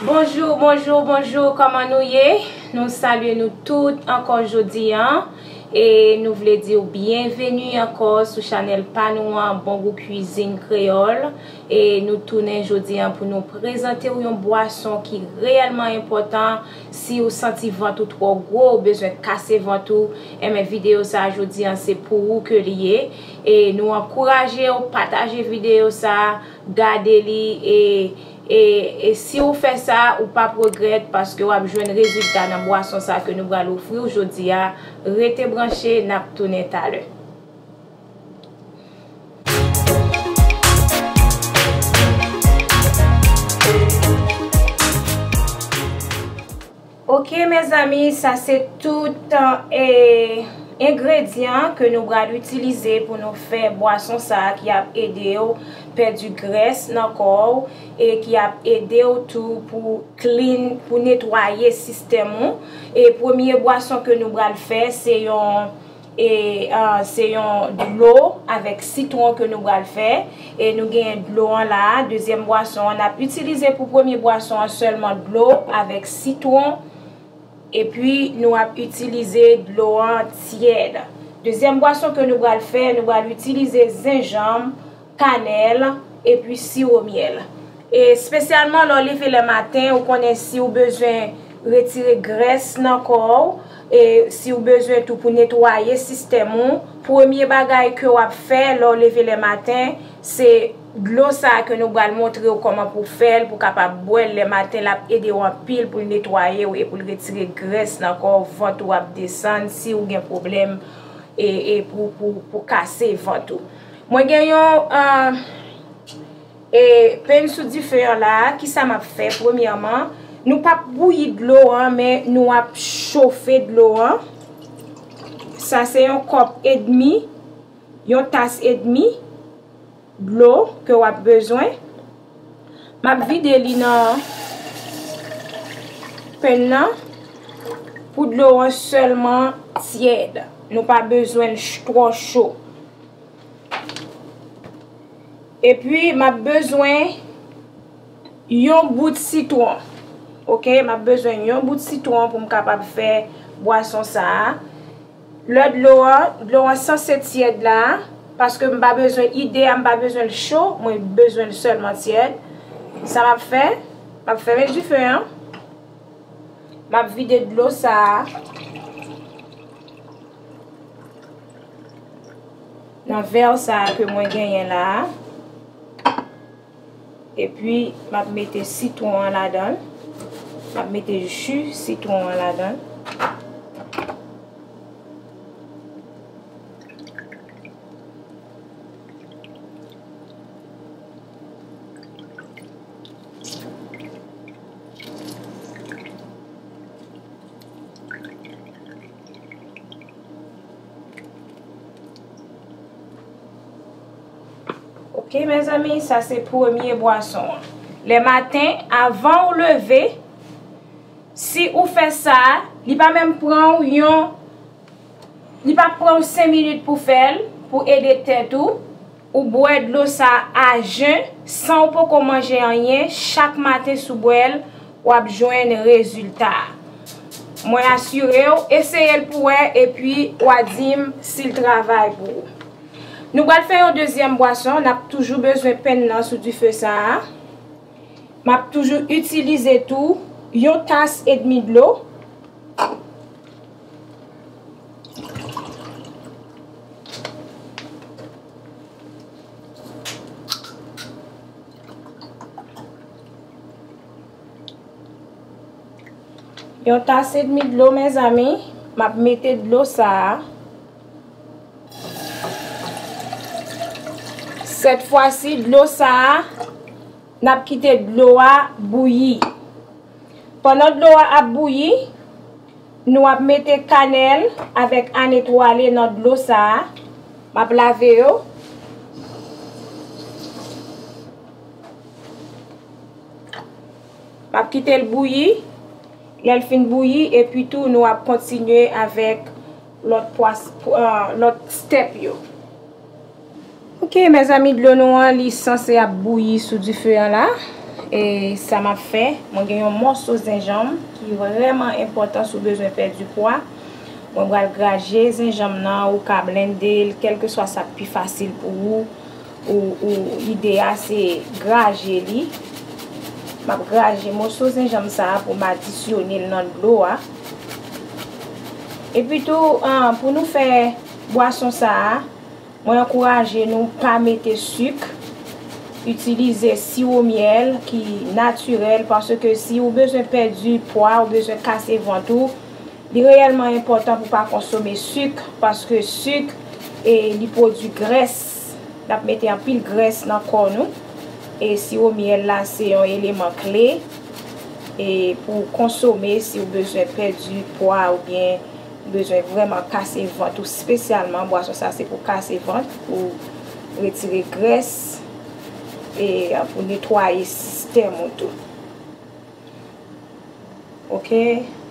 Bonjour bonjour bonjour koman nou ye nou salye nou tout ankò jodi an e nou vle diw byen veni ankò sou chanèl pa nou an bon gou kwizin kreyòl e nou tounen jodi an pou nou prezante ou yon bwason ki reyèlman enpòtan si ou santi vant ou twò gwo ou bezwen kase vant ou enben videyo sa jodi an se pou ou ke li ye e nou ankourajew pataje videyo sa. Gade li e e e si ou fè sa ou pap regrèt paske wap jwenn rezilta nan bwason sa ke nou pral ofri w jodi a rete branche nap tounen talè. Ok mezanmi sa se tout engredyan ke nou bral itilize pou nou fè bwason sa ki ap edew pèdi grès nan kòw e ki ap edew tou pou clean pou netwaye sistèm ou e premye bwason ke nou bral fè se yon E se yon dlo avèk sitwon ke nou bral fè. E nou genyen dlo an la a, dezyèm bwason an. N ap itilize pou premye bwason an sèlman dlo avèk sitwon. E pi nou ap itilize dlo an tyèd. Dezyèm bwason ke nou bral fè, nou bral itilize zenjanm. kanèl epi siwo myèl e spesyalman lè w leve lè maten ou konnen si w bezwen retire grès nan kò w e si w bezwen tou pou netwaye sistèm ou premye bagay ke w ap fè lè w leve lè maten se dlo sa ke nou pral montre w kòman pou w fè l pou w kapab bwè l lè maten l ap ede w anpil pou l netwaye w e pou l retire grès nan kò w vant ou ap desann si w gen pwoblèm e pou kase vant ou. Mwen gen yon e pen sou dife an la a, kisa m ap fè? Premyèman, nou pa p bouyi dlo an, men nou ap chofe dlo an. Sa se yon kòp edmi, yon tas edmi dlo ke w ap bezwen. M ap vide li nan pen nan pou dlo an sèlman tyèd. Nou pa bezwen l twò cho. E pi m ap bezwen yon bout sitwon. Ok, m ap bezwen yon bout sitwon pou m kapab fè bwason sa a. Lè dlo a, dlo a sanse tyèd la, paske m pa bezwen, ide a m pa bezwen l cho, mwen bezwen l sèlman tyèd. Sa m ap fè, m ap fèmen dife an, m ap vide dlo sa a. Nan vèr sa a ke mwen genyen la a. E pi, m ap mete sitwon an ladan l. M ap mete ju sitwon an ladan l. Ok mezanmi, sa se premye bwason an. Le maten, avan ou leve, si ou fe sa, li pa menm pran ou yon, li pa pran ou 5 minit pou fel, pou ede tet ou. Ou bwè dlo sa a jen, san ou poko manje anyen, chak maten si w bwè l, w ap jwenn rezilta a. Mwen asire w, eseye l pou wè epi wa di m si l travay pou ou. Nou pral fè yon dezyèm bwason, n ap toujou bezwen pen nan sou dife sa a. M ap toujou itilize tou yon tas edmi dlo. Yon tas edmi dlo mezanmi, m ap mete dlo sa a. Sèt fwa si dlo sa a, n ap kite dlo a bouyi. Pandan dlo a ap bouyi, Nou ap mete kanèl avèk ann etwale nan dlo sa a. M ap lave yo. M ap kite l bouyi. Lè l fin bouyi, epi tou nou ap kontinye avèk lòt stèp yo. Ok mezanmi dlo nou an li sanse ap bouyi sou dife an la e sa m ap fè mwen gen yon mòso zenjanm ki vrèman enpòtan si w bezwen pèdi pwa mwen pral graje zenjanm nan ou ka blende l kèlkeswa sa k pi fasil pou ou ou ide a se graje li m ap graje mòso zenjanm sa a pou m adisyone l nan dlo a epitou pou nou fè Bwason sa a, mwen ankouraje nou pa mete suk, itilize siwo myèl ki natirèl paske si ou bezwen pèdi pwa, ou bezwen kase vant ou, li reyèlman enpòtan pou pa konsome suk paske suk e li pwodui grès, l ap mete anpil grès nan kò nou e siwo myèl la se yon eleman kle e pou konsome si ou bezwen pèdi pwa oubyen. Bezwen vrèman kase vant ou spesyalman bwason sa se pou kase vant pou retire grès e pou netwaye sistèm ou tou ok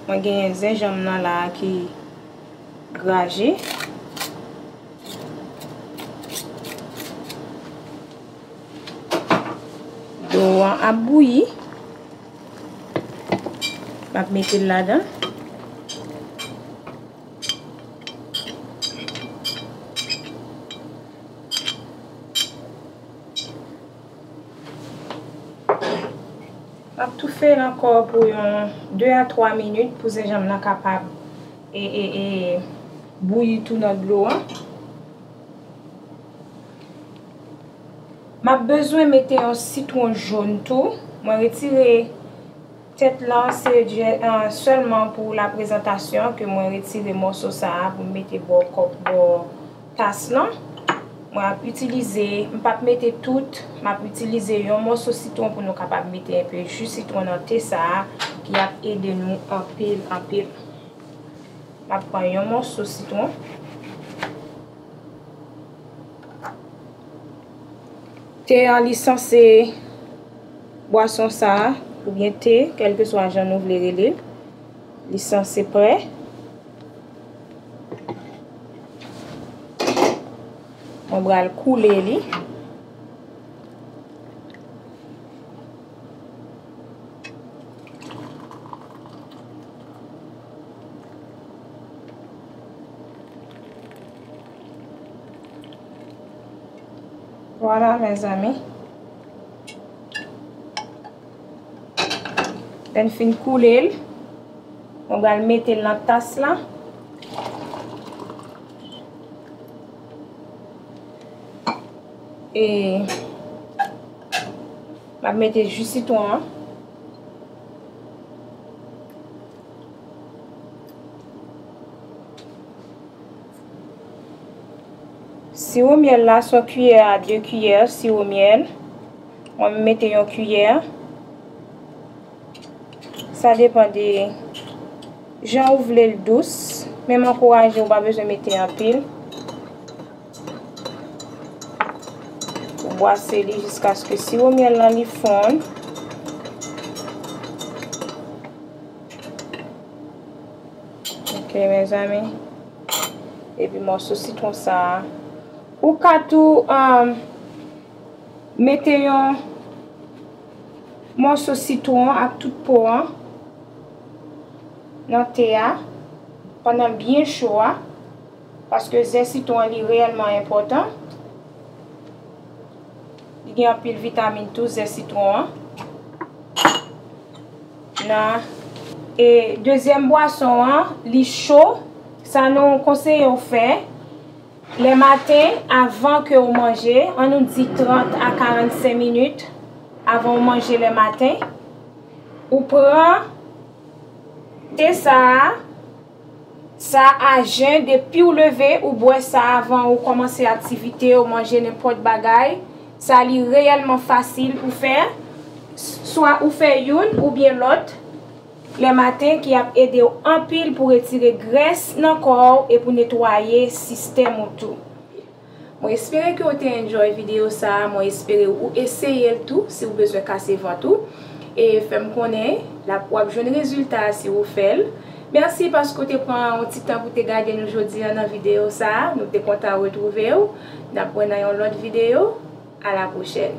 mwen genyen zenjanm nan la ki graje dlo an ap bouyi. Map mete l ladan. Map toufe l ankò pou yon 2 a 3 minit pou zenjanm nan kapab e e e bouyi tou nan dlo an. Map bezwen mete yon sitron jaune tou. Mwen retire tèt lan se sèlman pou la prezantasyon ke mwen retire mòso sa a pou m mete bò kòp bò tas lan. Mwen ap itilize, m pap mete tout, m ap itilize yon mòso sitron pou nou kapab mete enpe ji sitron nan te sa a ki ap ede nou anpil anpil. Map pran yon mòso sitron. Te an li sanse bwason sa a, oubyen te, kèlke swa jan nou vle rele l, li sanse prè. Mwen bral koule li. Vwala mezanmi. Lè n fin koule l, nou pral mete l nan tas la. E m ap mete ji sitwon an. Siwo myèl la son kiyè a 2 kiyè siwo myèl. Mwen m mete yon kiyè. Sa depan de jan ou vle l dous. Men m ankouraje ou pa bezwen mete anpil. Ou bwase li jiskaske siwo myèl lan li fonn. Ok mezanmi. Epi mòso sitwon sa a. Ou ka tou mete yon mòso sitwon ak tout po an nan te a pandan l byen cho a. Paske ze sitwon an li reyèlman enpòtan. Li gen anpil vitamin tou ze sitwon an. Na. E dezyèm bwason an li cho, sa nou konseye w fè, lè maten avan ke w manje, an nou di 30 a 45 minit avan w manje lè maten, ou pran te sa a. Sa a jen, depiw leve ou bwè sa avan ou kòmanse aktivite ou manje nenpòt bagay, sa li reyèlman fasil pou fè, swa ou fè youn oubyen lòt lè maten ki ap edew anpil pou retire grès nan kòw e pou netwaye sistèm ou tou. Mwen espere ke ou te enjoy video sa a, mwen espere ou eseye l tou si ou bezwen kase vant ou e fè m konnen lap wap jwenn rezilta a si ou fè l. Mèsi paske ou te pran yon ti tan pou te gade nou jodi an nan video sa a, nou te kontan retwouve ou, nap wè nan yon lòt video, a la pwochèn.